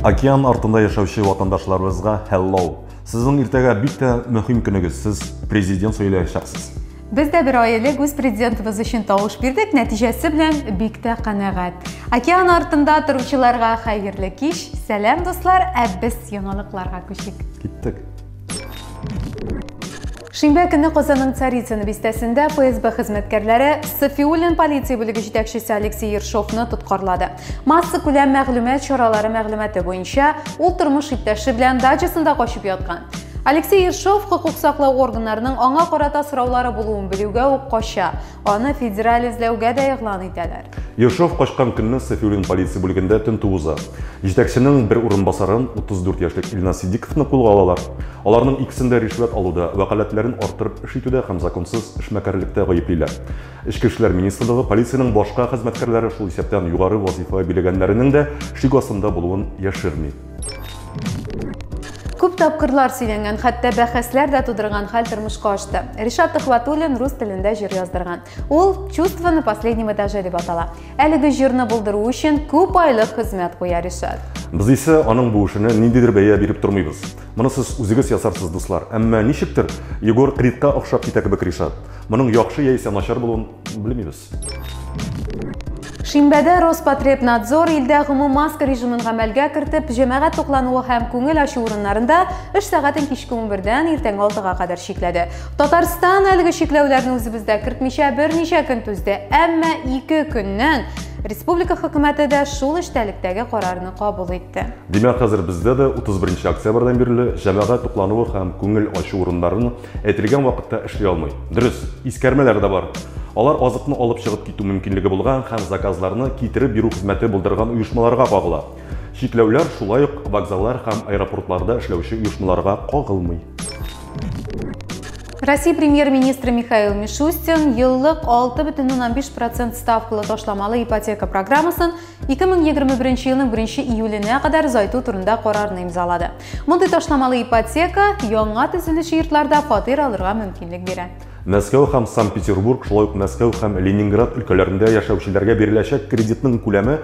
Океан артында яшәүче ватандашларыбызга hello. Сезнең иртәгә бик тә мөһим көнегез. Сез президент сөйләячәксез. Без дә бер аилек үз президентыбыз өчен тавыш бирдек, нәтиҗәсе белән бик тә канәгать. Океан артында торучыларга хәерле кич. Сәлам дуслар, ә без яңалыкларга күчик. Киттек. Шимбә көне Казанның Царицыно бистәсендә ФСБ хезмәткәрләре Сафиуллин полиция бүлеге җитәкчесе Алексей Ершовны тоткарлады. Масса күләм мәгълүмат чаралары мәгълүматы буенча, ул тормыш иптәше белән дачасында качып яткан. Алексей Ершов хокук саклау органнарының аңа карата сораулары булуын белүгә үк кача. Аны федераль эзләүгә дә игълан итәләр. Ершов качкан көнне Сафиуллин полиция бүлегендә тентү уза. Җитәкченең бер урынбасарын, 34 яшьлек Илназ Сидиковны кулга алалар. Аларның икесен дә ришвәт алуда, вәкаләтләрен арттырып эш итүдә һәм законсыз эшмәкәрлектә гаеплиләр. Эчке эшләр министрлыгы полициянең башка хезмәткәрләре, шул исәптән югары вазыйфа биләгәннәренең дә шик астында булуын яшерми. Күп тапкырлар сөйләнгән, хәтта бәхәсләр дә тудырган хәл тормышка ашты. Ришат Төхватуллин рус телендә җыр яздырган. Ул «Чувство на последнем этаже» дип атала. Әлеге җырны булдыру өчен күп айлык хезмәт куя Ришат. Без исә аның бу эшенә ниндидер бәя биреп тормыйбыз. Моны сез үзегез ясарсыз, дуслар. Әмма ничектер, Егор Кридка охшап китә кебек Ришат. Моның яхшы яисә начар булуын белмибез. Шимбәдә Роспотребнадзор илдә гомум маск режимын гамәлгә кертеп, җәмәгать туклануы һәм күңел ачу урыннарында эш сәгатен кичке 11-дән иртәнге 6-га кадәр чикләде. Татарстан әлеге чикләүләрне үзебездә кертмичә берничә көн түзде, әмма 2 көннән республика хөкүмәте дә шул эчтәлектәге карарны кабул итте. Димәк, хәзер бездә дә 31 октябрьдән бирле җәмәгать туклануы һәм күңел ачу урыннарын Әйтелгән вакытта эшли алмый. Дөрес, искәрмәләр дә бар. Алар азыкны алып чыгып китү мөмкинлеге булган һәм заказларны китереп бирү хезмәте булдырган оешмаларга кагыла. Чикләүләр шулай ук вокзаллар һәм аэропортларда эшләүче оешмаларга кагылмый. Россия премьер-министры Михаил Мишустин еллык 6,5 процент ставкалы ташламалы ипотека программасын 2021 елның 1 июленә кадәр озайту турында карарны имзалады. Мондый ташламалы ипотека яңа төзелүче йортларда фатир алырга мөмкинлек бирә. Мәскәү һәм Санкт-Петербург, шулай ук Мәскәү һәм Ленинград өлкәләрендә яшәүчеләргә биреләчәк кредитның күләме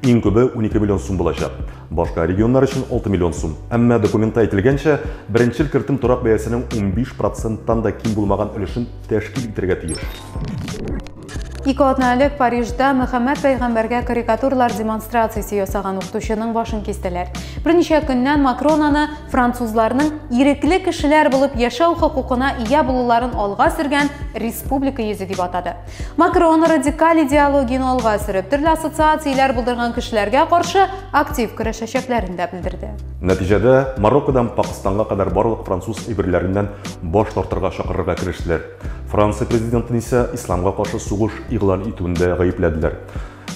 иң күбе 12 миллион сум булачак. Башка регионнар өчен 6 миллион сум. Әмма документта әйтелгәнчә, беренчел кертем торак бәясенең 15 проценттан да ким булмаган өлешен тәшкил итәргә тиеш. Ике атна элек Парижда Мөхәммәд пәйгамбәргә карикатурлар демонстрациясе ясаган укытучының башын кистеләр. Берничә көннән Макрон аны французларның ирекле кешеләр булып яшәү хокукына ия булуларын алга сөргән республика йөзе дип атады. Макрон радикаль идеологияне алга сөреп, төрле ассоциацияләр булдырган кешеләргә каршы актив көрәшәчәкләрен дә белдерде. Нәтиҗәдә Мароккодан Пакыстанга кадәр барлык француз әйберләреннән баш тартырга чакырырга керештеләр. Франция президентын исә исламга каршы сугыш игълан итүендә гаепләделәр.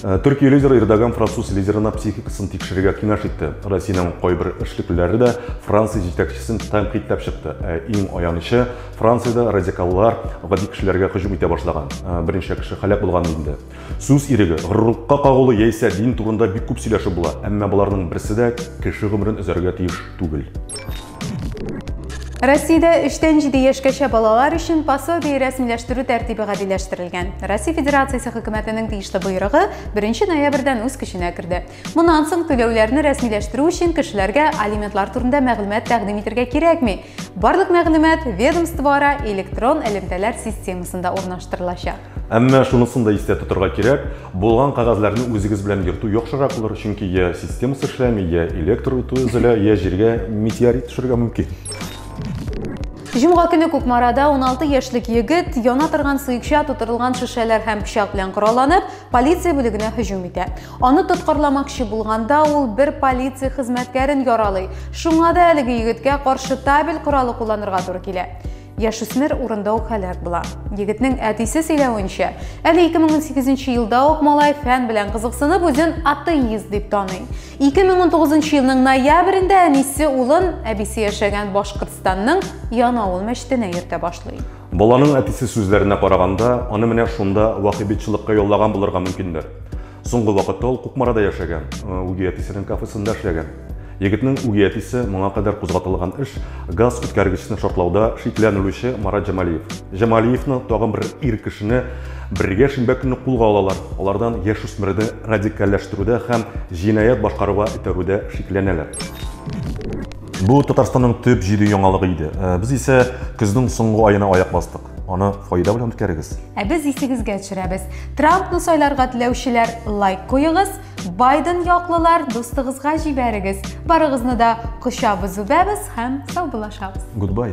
Э, Төркия лидеры Эрдоган француз лидерына психикасын тикшерергә киңәш итте. Россиянең кайбер эшлеклеләре дә Франция җитәкчесен тәнкыйтьләп чыкты. Ә иң аянычы, Франциядә радикаллар гади кешеләргә һөҗүм итә башлаган. Э, берничә кеше һәлак булган инде. Сүз иреге, горурлыкка кагылу яисә дин турында бик күп сөйләшеп була, әмма боларның берсе дә кеше гомерен өзәргә тиеш түгел. Россиядә 3-тән 7 яшькәчә балалар өчен пособие рәсмиләштерү тәртибе гадиләштерелгән. Россия Федерациясе хөкүмәтенең тиешле боерыгы 1 ноябрьдән үз көченә керде. Моннан соң түләүләрне рәсмиләштерү өчен кешеләргә алиментлар турында мәгълүмат тәкъдим итәргә кирәкми. Барлык мәгълүмат ведомствоара электрон элемтәләр системасында урнаштырылачак. Әмма шунысын да истә тотарга кирәк, булган кагазларны үзегез белән йөртү яхшырак булыр, чөнки я системасы эшләми, я электр үтү өзелә, я җиргә метеорит төшәргә мөмкин. Җомга көне Кукмарада 16 яшьлек егет яна торган сыекча тутырылган шешәләр һәм пычак белән коралланып, полиция бүлегенә һөҗүм итә. Аны тоткарламакчы булганда ул бер полиция хезмәткәрен яралый. Шуңа да әлеге егеткә каршы табель коралы кулланырга туры килә. Яшүсмер урында ук һәлак була. Егетнең әтисе сөйләвенчә, әле 2018 елда ук малай фән белән кызыксынып үзен атеист дип таный. 2019 елның ноябрендә әнисе улын әбисе яшәгән Башкортстанның Янаул мәчетенә йөртә башлый. Баланың әтисе сүзләренә караганда, аны менә шунда вахибитчылыкка яллаган булырга мөмкиндер. Соңгы вакытта ул Кукмарада яшәгән, э, үги әтисенең кафесында эшләгән. Егетнең үги әтисе моңа кадәр кузгатылган эш газ үткәргечне шартлауда шикләнелүче Марат Җамалиев. Җамалиевны тагын бер ир кешене бергә шимбә көнне кулга алалар. Алардан яшь үсмерне радикальләштерүдә һәм җинаять башкаруга этәрүдә шикләнәләр. Бу Татарстанның төп җиде яңалыгы иде. Э, без исә көзнең соңгы аена аяк бастык. Аны файда белән үткәрегез. Ә без исегезгә төшерәбез. Трампны сайларга теләүчеләр лайк куегыз, Байден яклылар дустыгызга җибәрегез. Барыгызны да кочабыз үбәбез һәм саубуллашабыз. Goodbye.